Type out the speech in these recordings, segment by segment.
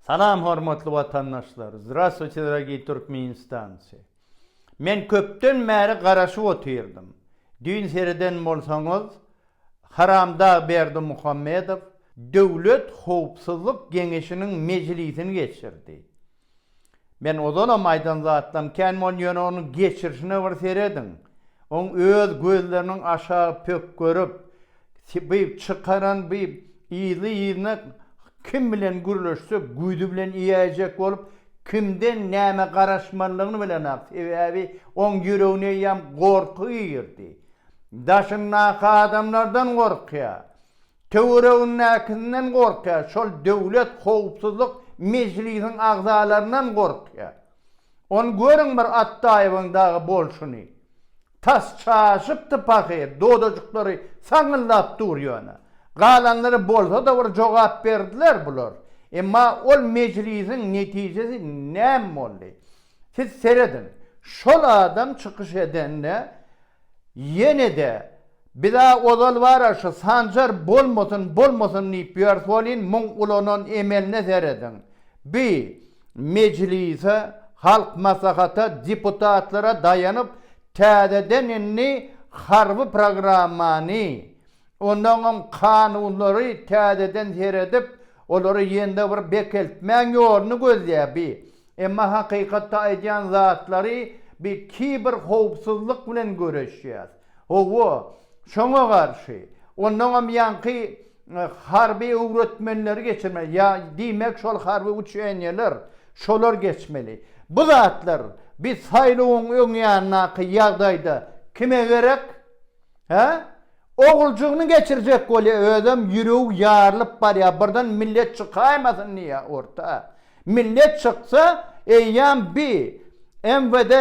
Salam hormatly watandaşlar! Zdrastwuyte dragiý Türkmenistanci! Men köpden bäri garaşyp otyrdym. Düýn sereden bolsaňyz, Haramdag Berdimuhamedow Döwlet howpsuzlyk geňeşiniň mejlisini geçirdi. Men ozalam aýdan zatlaryň kän bol ýöne onuň geçirişine bir serediň. Oň öz gözleriniň aşagy pök görüp, beýp çykaran beýp yzly-yzyna kim bilen gürleşse güýdi bilen iýäýjek bolup kimden näme garaşmalygyny bilenok sebäbi oň ýüregini eýýäm gorky girdi. Daşyndaky adamlardan gorkýa. Töweregindäkisinden gorkýar, şol Döwlet howpsuzlyk mejlisiň agzalaryndan gorkýar. Ony görüň bir Atdaýewiň dagy bolşuny. Tas çaşypdy pahyr, dodajyklary saňňyldap dur ýöne. Galanlary bolsa-da bir jogap berdiler bular. Emma ol mejlisiň netijesi näme boldy? Siz serediň, şol adam çykyş edende ýene-de Biz-ä ozal bar-a şu Sanjar bolmasyn, bolmasyn diýip ýörs welin muň ulanan emeline serediň. Bi, Mejlise, Halk Maslahata, deputatlara daýanyp täzeden indi harby programmany, onnoňam kanunlary täzeden seredip, olary ýene-de bir bekeltmäň ýoluny gözleýär bi. Emma hakykatda aýdýan zatlary bi kiber howpsuzlyk bilen göreşýäs. Howwa, şoňa garşy, onnoňam ýaňky harby öwretmenleri geçirmeli, ýa diýmek şol harby uçeniýeler, şolar geçmeli. Bu zatlar bi saýlawyň öň ýanyndaky ýagdaýda kime gerek? Hä? Oguljygyny geçirjek bolýa özem ýüregi ýarylyp barýa birden millet çykaýmasyn diýýä orta. Millet çyksa eýýäm bi MWD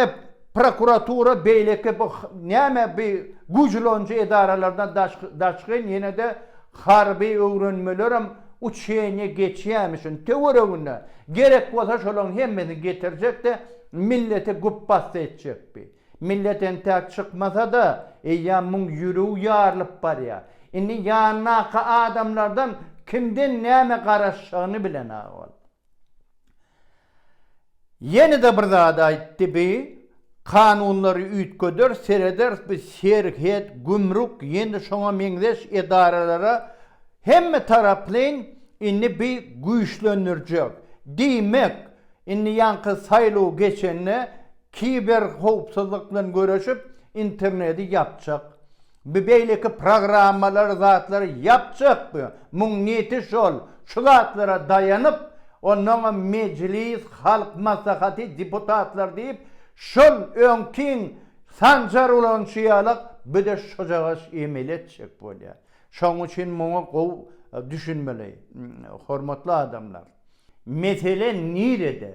prokuratura beýleki bu näme bi güýjülanjy edaralardan daşgyn ýenede harby öwrenmelerem uçeniýe geçýämi şuny töweregine gerek bolsa şolaň hemmesini getirjek de milleti güp bassa etjek bi. Millet entäk çykmasa-da, eýýäm muň ýüregi ýarylyp barýar. Indi ýanyndaky adamlardan kimden näme garaşjagyny bilenag boldy. Ýene-de bir zat aýtdy, Bi, kanunlary üýtgederis, serederis, bi serhet, gümrük, ýene-de şoňa meňzeş edaralara hemme taraplaýyn indi bi güýçlendirjek. Diýmek, indi ýaňky saýlaw geçende Kiberhowpsuzlyk bilen göreşip interneti ýapjak bi beýleki programmalary zatlary ýapjak bi muň niti şol şu zatlara daýanyp onnoňam mejlis halk maslahaty deputatlar diýip şol öňkiň sanjar ulan şuýalak bide şojagaş emeli etjek bolýa şoň üçin muňa gowy düşünmeli hormatly adamlar mesele nirede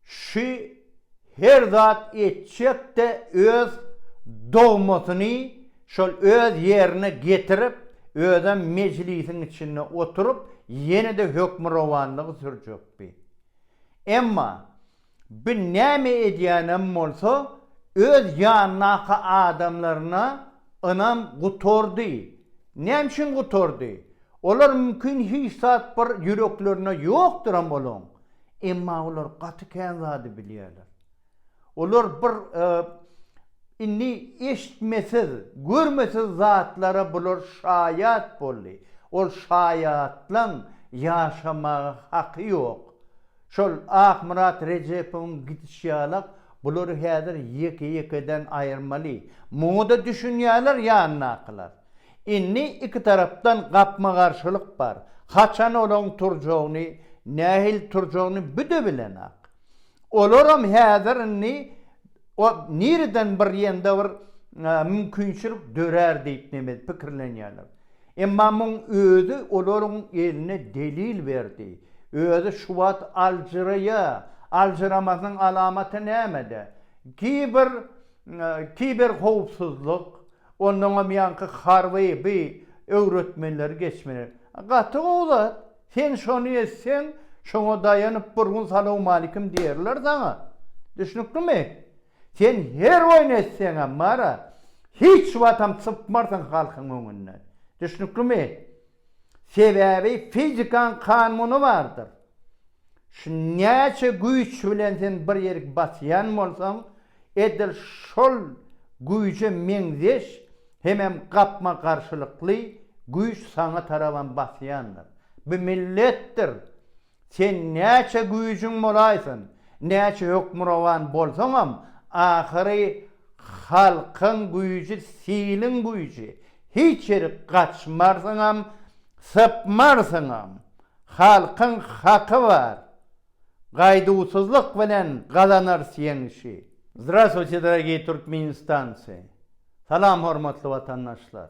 Şu her zat etjekde öz dogmasyny şol öz ýerine getirip, özem mejlisiň içinde oturyp, ýene-de hökmürowanlygy sürjekdi. Emma bi näme edýänem bolsa, öz ýanyndaky adamlaryna ynam gutardy. Näme üçin gutardy? Olar mümkin hiç zat bir ýüreklerinde ýokduram olaň. Emma olar gaty kän zady bilýärler. Olar bir indi eşitmesiz, görmesiz zatlara bular şaýat boldy. Ol şaýatlaň ýaşamaga haky ýok. Şol Akmyrat Rejepowyň gidiş ýalak bulary häzir ýeke-ýekeden aýyrmaly. Muňa-da düşünýärler ýanyndakylar. Indi iki tarapdan gapma-garşylyk bar. Haçan olaň turjagyny, nähili turjagyny büdä bilenok. Olaram häzir indi o nireden bir ýanda bir mümkinçilik dörär diýip neme pikirlenýärler. Emma muň özi olaryň eline delil berdi. Özi şu wagt aljyraýa. Aljyramasynyň alamaty nämede? Kiber kiberhowpsuzlyk, Onnoňam ýaňky harby by öwretmenleri geçmeli. Gaty gowy zat. Sen şony etseň, şoňa daýanyp bir gün salowmalikim diýerler saňa. Düşnüklimi? Sen her oýny etseňem, Mara, hiç watam sypmarsyň halkyň öňünden. Düşnüklimi? Sebäbi fizikaň kanuny bardyr. Şu näçe güýç bilen sen bir ýerik basýan bolsaň, edil şol güýje meňzeş hemem gapma-garşylykly güýç saňa tarabam basýandyr. Bu milletdir. Sen näçe güýjüň bolaýsyn, näçe hökmürowan bolsaňam, ahyry halkyň güýji siliň güýji, hiç ýerik gaçmarsyňam, sypmarsyňam. Halkyň haky bar, gaýduwsyzlyk bilen gazanarys ýeňişi. Zdraswuti, dragii Turkmenistanci! Salam hormatly watandaşlar!